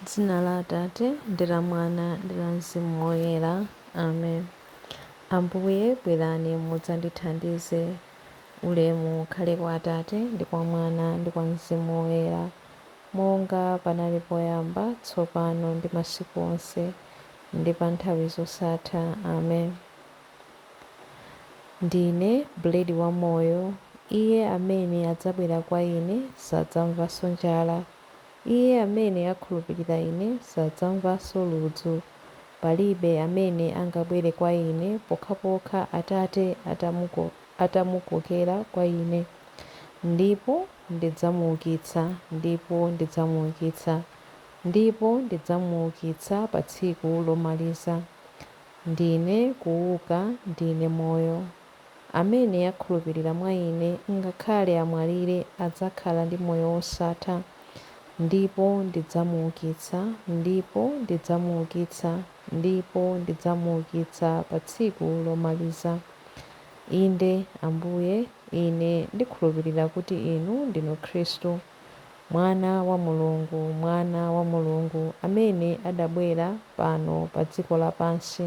M'dzina la Atate, ndi la Mwana, ndi la Mzimu Woyera. Amen. Ambuye, bwerani mudzandithandize. Ulemu ukhale kwa Atate, ndi kwa Mwana, ndi kwa Mzimu Woyera, monga panali poyamba, tsopano, ndi masiku onse, ndi pa nthawi zosatha. Amen. Ndine bredi wa moyo, iye amene adzabwera kwa Ine sadzamvanso njala, Iye amene akhulupirira Ine sadzamvanso ludzu. Palibe amene angabwere kwa Ine pokhapokha Atate atamukokera kwa Ine. Ndipo ndidzamuukitsa. Ndipo ndidzamuukitsa. Ndipo ndidzamuukitsa pa tsiku lomaliza. Ndine kuuka. Ndine moyo. Amene akhulupirira mwa Ine, ngakhale amwalire adzakhala ndi moyo wosatha, ndipo ndidzamuukitsa, ndipo ndidzamuukitsa, ndipo ndidzamuukitsa pa tsiku lomaliza. Inde, Ambuye, ine ndikhulupirira kuti Inu ndinu Khristu, Mwana wa Mulungu, Mwana wa Mulungu, amene adabwera pano pa dziko lapansi.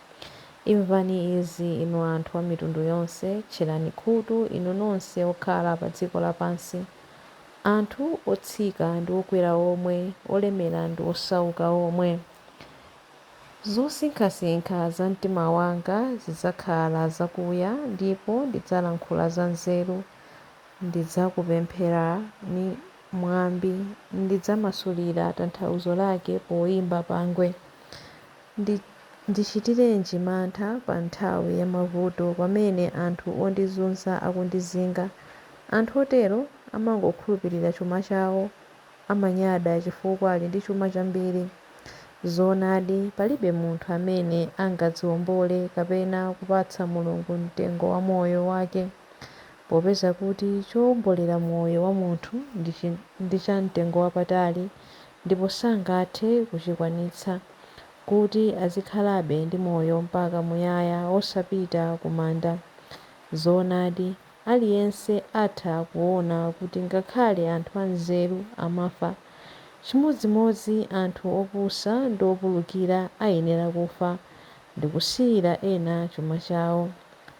Imvani izi, inu anthu a mitundu yonse, tcherani khutu, inu nonse okhala pa dziko lapansi, anthu otsika ndi okwera omwe, olemera ndi osauka omwe. Zosinkhasinkha za mtima wanga zidzakhala zakuya ndipo ndidzalankhula zanzeru, ndidzakupherani mwambi, ndidzamasulira tanthauzo lake poimba pangwe. Ndichitirenji mantha pa nthawi ya mavuto pamene anthu ondizuza akundizinga? Anthu otero amangokhulupirira chuma chawo, amanyada chifukwa ali ndi chuma chambiri. Zoonadi, palibe munthu amene angadziwombole kapena kupatsa Mulungu mtengo wa moyo wake, popeza kuti chowombolera moyo wa munthu ndi cha mtengo wapatali. ndipo sangathe kuchikwanitsa, kuti azikhalabe ndi moyo mpaka muyaya osapita kumanda. Zoonadi, aliyense atha kuona kuti ngakhale anthu anzeru amafa. Chimodzimodzi anthu opusa ndi opulukira ayenera kufa ndikusiyira ena chuma chawo.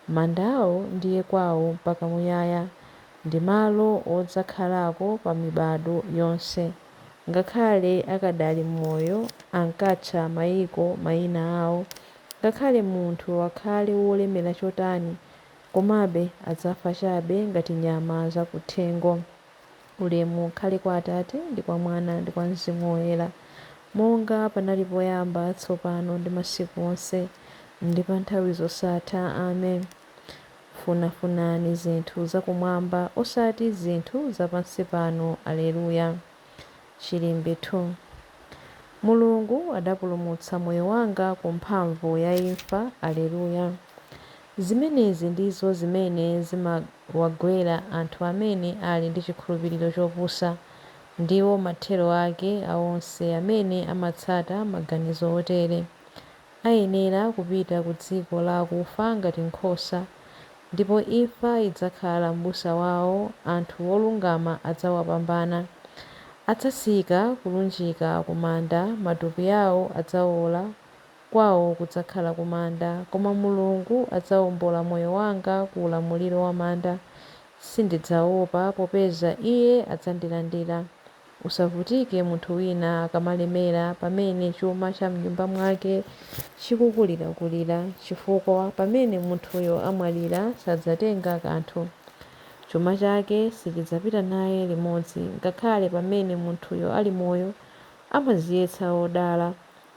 Manda awo ndiye kwawo mpaka muyaya. ndi malo odzakhalako pa mibadwo yonse. Ngakhale akadali m'moyo ankatcha maiko maina awo. Ngakhale munthu akhale wolemera chotani, komabe adzafa chabe ngati nyama za kuthengo. Ulemu ukhale kwa Atate, ndi kwa Mwana, ndi kwa Mzimu Woyera, monga panali poyamba, tsopano, ndi masiku onse, ndi pa nthawi zosatha. Amen. Funafunani zinthu za kumwamba osati zinthu za pansi pano Aleluya. Chilimbi 2 Mulungu adapulumutsa moyo wanga ku mphamvu ya imfa Aleluya. Zimenezi ndizo zimene zimawagwera anthu amene ali ndi chikhulupiriro chopusa. Ndiwo mathero ake a onse amene amatsata maganizo otere. Ayenera kupita ku dziko la akufa ngati nkhosa, ndipo imfa idzakhala mbusa wawo, anthu olungama adzawapambana. Adzatsika kulunjika ku manda, matupi awo adzawola, kwawo kudzakhala ku manda, koma Mulungu adzawombola moyo wanga ku ulamuliro wa manda, sindidzawopa, popeza Iye adzandilandira. Usavutike munthu wina akamalemera pamene chuma cha m'nyumba mwake chikukulirakulira, chifukwa pamene munthuyo amwalira sadzatenga kanthu. Chuma chake sichidzapita naye limodzi. Ngakhale pamene munthuyo ali moyo, amadziyesa wodala,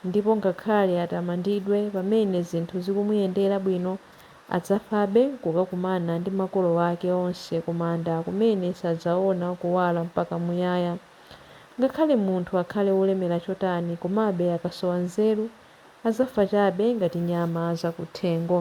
Ndipo ngakhale atamandidwe pamene zinthu zikumuyendera bwino, adzafabe kukakumana ndi makolo ake onse kumanda kumene sadzaona kuwala mpaka muyaya. Ngakhale munthu akhale wolemera chotani komabe akasowa nzeru, adzafa chabe ngati nyama zakuthengo.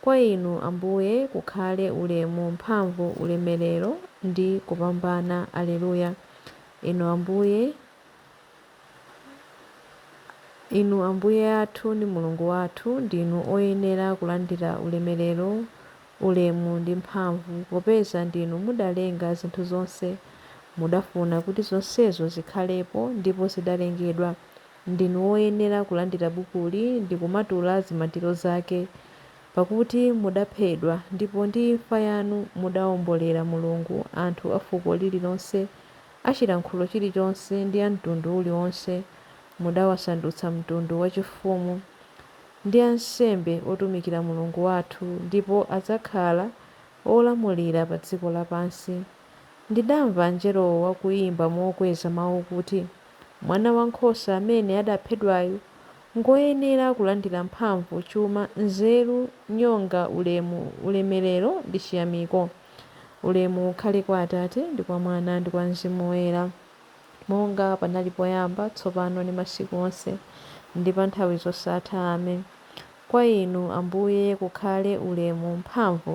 Kwa Inu, Ambuye, kukhale ulemu, mphamvu, ulemerero, ndi kupambana. Aleluya! Inu Ambuye, Inu Ambuye athu ndi Mulungu wathu, ndinu oyenera kulandira ulemerero, ulemu, ndi mphamvu, popeza ndinu mudalenga zinthu zonse, mudafuna kuti zonsezo zikhalepo, ndipo zidalengedwa ndinu woyenera kulandira bukuli ndi kumatula zimatiro zake, pakuti mudaphedwa, ndipo ndi imfa yanu mudawombolera Mulungu anthu a fuko lililonse, a chilankhulo chilichonse, ndi a mtundu uliwonse, mudawasandutsa mtundu wachifumu, ndi ansembe otumikira Mulungu wathu, ndipo adzakhala olamulira pa dziko lapansi. Ndidamva angelowo akuimba mokweza mau kuti. Mwana wa nkhosa amene adaphedwayu ngwoyenera kulandira mphamvu, chuma, nzeru, nyonga, ulemu, ulemerero ndi chiyamiko. Ulemu ukhale kwa Atate, ndi kwa Mwana, ndi kwa Mzimu Woyera, monga panali poyamba, tsopano ndi masiku onse, ndi pa nthawi zosatha. Amen. Kwa Inu, Ambuye, kukhale ulemu, mphamvu.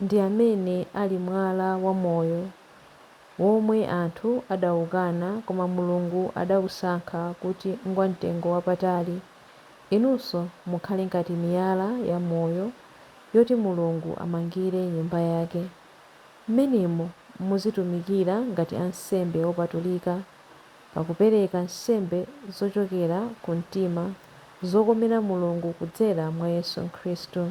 ndi amene ali mwala wa moyo, womwe anthu anaukana koma Mulungu anausankha kuti ngwamtengo wapatali. Inunso mukhale ngati miyala yamoyo yoti Mulungu amangire Nyumba yake. Mmenemo muzitumikira ngati ansembe opatulika, pakupereka nsembe zochokera ku mtima zokomera Mulungu kudzera mwa Yesu Khristu.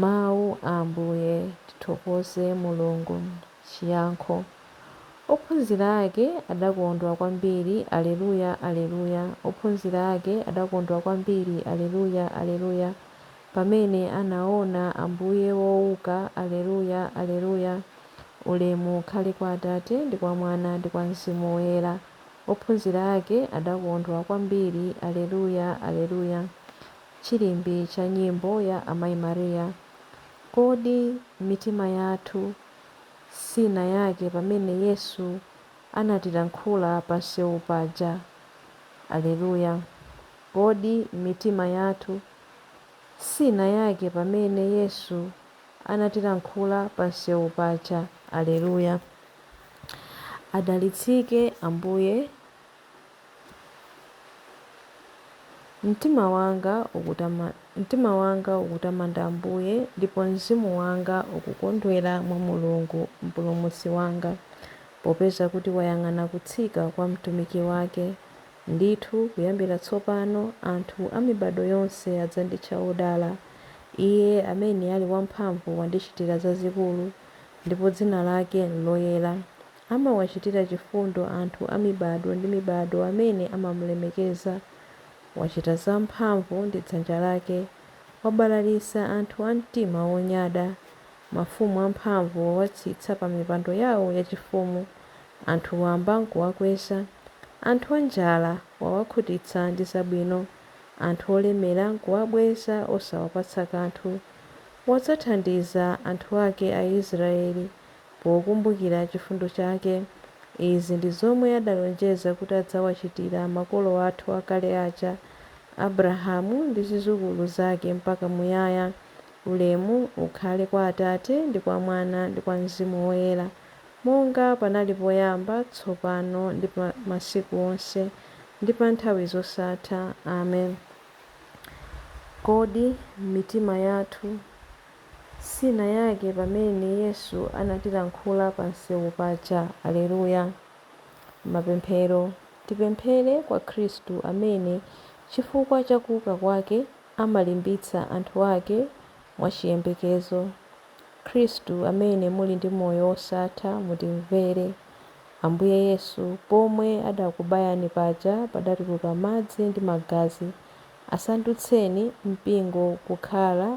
Mawu a Ambuye, tithokoze Mulungu! Chiyankho Ophunzira ake adakondwa kwambiri, Alleluia, Alleluia, Ophunzira ake adakondwa kwambiri, Alleluia, Alleluia, pamene anaona Ambuye wouka, Alleluia, Alleluia, Ulemu ukhale kwa Atate, ndi kwa Mwana, ndi kwa Mzimu Woyera, Ophunzira ake adakondwa kwambiri, Alleluia, Alleluia, Chilimbi cha nyimbo ya Amayi Maria, Kodi mitima yathu siinayake pamene Yesu anatilankhula pamsewu paja? Aleluya! Kodi mitima yathu siinayake pamene Yesu anatilankhula pamsewu paja? Aleluya! Adalitsike Ambuye Mtima wanga ukutamanda Ambuye, ndipo mzimu wanga ukukondwera mwa Mulungu Mpulumutsi wanga, popeza kuti wayang'ana kutsika kwa mtumiki wake. Ndithu, kuyambira tsopano anthu a mibadwo yonse adzanditcha wodala. Iye amene ali wamphamvu wandichitira zazikulu, ndipo dzina lake n'loyera. Amawachitira chifundo anthu a mibadwo ndi mibadwo amene amamulemekeza. Wachita zamphamvu ndi dzanja lake, wabalalitsa anthu a mtima wonyada. Mafumu amphamvu wawatsitsa pa mipando yao yachifumu, anthu wamba nkuwakweza. Anthu anjala wawakhutitsa ndi zabwino, anthu olemera nkuwabweza osawapatsa kanthu. Wadzathandiza anthu ake Aisraele pokumbukira chifundo chake. Izi ndi zomwe adalonjeza kuti adzawachitira makolo athu akale aja, Abrahamu ndi zizukulu zake mpaka muyaya. Ulemu ukhale kwa Atate, ndi kwa Mwana, ndi kwa Mzimu Woyera, monga panali poyamba, tsopano ndi pa masiku onse, ndi pa nthawi zosatha. Amen. Kodi mitima yathu sinayake pamene Yesu anatilankhula pa msewu paja. Aleluya! Mapemphero, tipemphere kwa Khristu amene chifukwa cha kuuka kwake amalimbitsa anthu ake mwachiyembekezo. Khristu amene muli ndi moyo wosatha mutimvere. Ambuye Yesu, pomwe adakubayani paja padatuluka madzi ndi magazi, Asandutseni mpingo kukhala,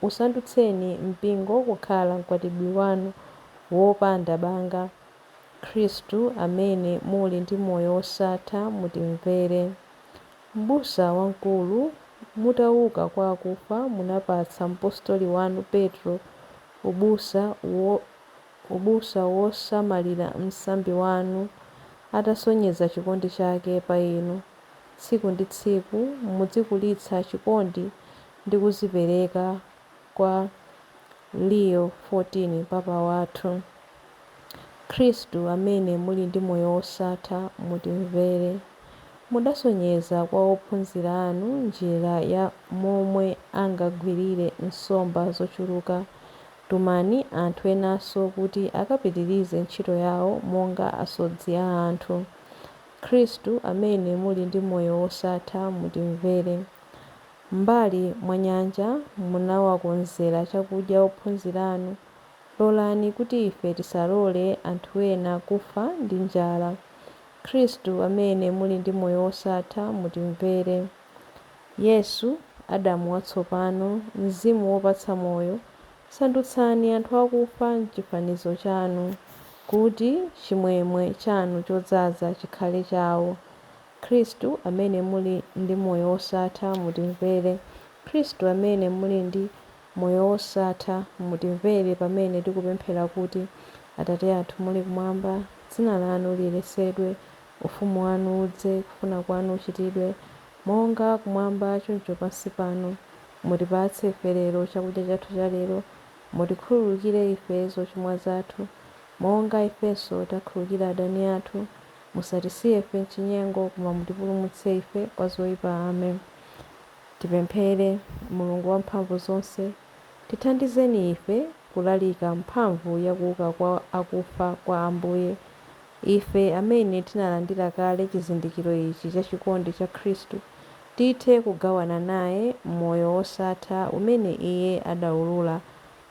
usandutseni mpingo kukhala Mkwatibwi Wanu wopanda banga, Khristu amene muli ndi moyo wosatha mutimvere. Mbusa Wamkulu, mutauka kwa akufa munapatsa Mpostoli Wanu Petro ubusa wosamalira msambi Wanu atasonyeza chikondi chake pa Inu. Tsiku ndi tsiku mudzikulitsa chikondi ndi kuzipereka kwa Leo 14 papa wathu. Khristu amene muli ndi moyo wosatha mutimvere. Mudasonyeza kwa ophunzira anu njira ya momwe angagwirire nsomba zochuluka. Tumani anthu enanso kuti akapitirize ntchito yawo monga asodzi a anthu. Khristu amene muli ndi moyo wosatha mutimvere. M'mbali mwa nyanja munawakonzera chakudya ophunzira anu, lolani kuti ife tisalole anthu ena kufa ndi njala. Khristu amene muli ndi moyo wosatha mutimvere. Yesu, Adamu watsopano, Mzimu wopatsa moyo, Sandutsani anthu akufa m'chifanizo chanu, kuti chimwemwe chanu chodzaza chikhale chawo. Khristu, amene muli ndi moyo wosatha, mutimvere. Khristu, amene muli ndi moyo wosatha, mutimvere pamene tikupemphera kuti, Atate athu muli kumwamba, dzina lanu liyeretsedwe, Ufumu wanu udze, kufuna kwanu kuchitidwe, monga kumwamba choncho pansi pano. Mutipatse ife lero chakudya chathu cha lero. Mutikhululukire ife zochimwa zathu, monga ifenso takhulukira adani athu. Musatisiye ife m'chinyengo, koma mutipulumutse ife kwa zoipa. Amen. Tipemphere. Mulungu wamphamvu zonse, tithandizeni ife kulalika mphamvu ya kuuka kwa akufa kwa Ambuye, ife amene tinalandira kale chizindikiro ichi cha chikondi cha Khristu, tithe kugawana naye moyo wosatha umene Iye adaulula,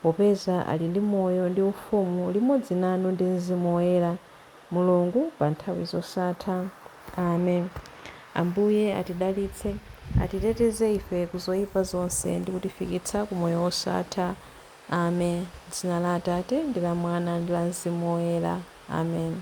popeza ali ndi moyo ndi ufumu limodzi nanu ndi Mzimu Woyera, Mulungu pa nthawi zosatha. Amen. Ambuye atidalitse, atiteteze ife ku zoipa zonse ndi kutifikitsa ku moyo wosatha. Amen. M'dzina la Atate, ndi la Mwana, ndi la Mzimu Woyera. Amen.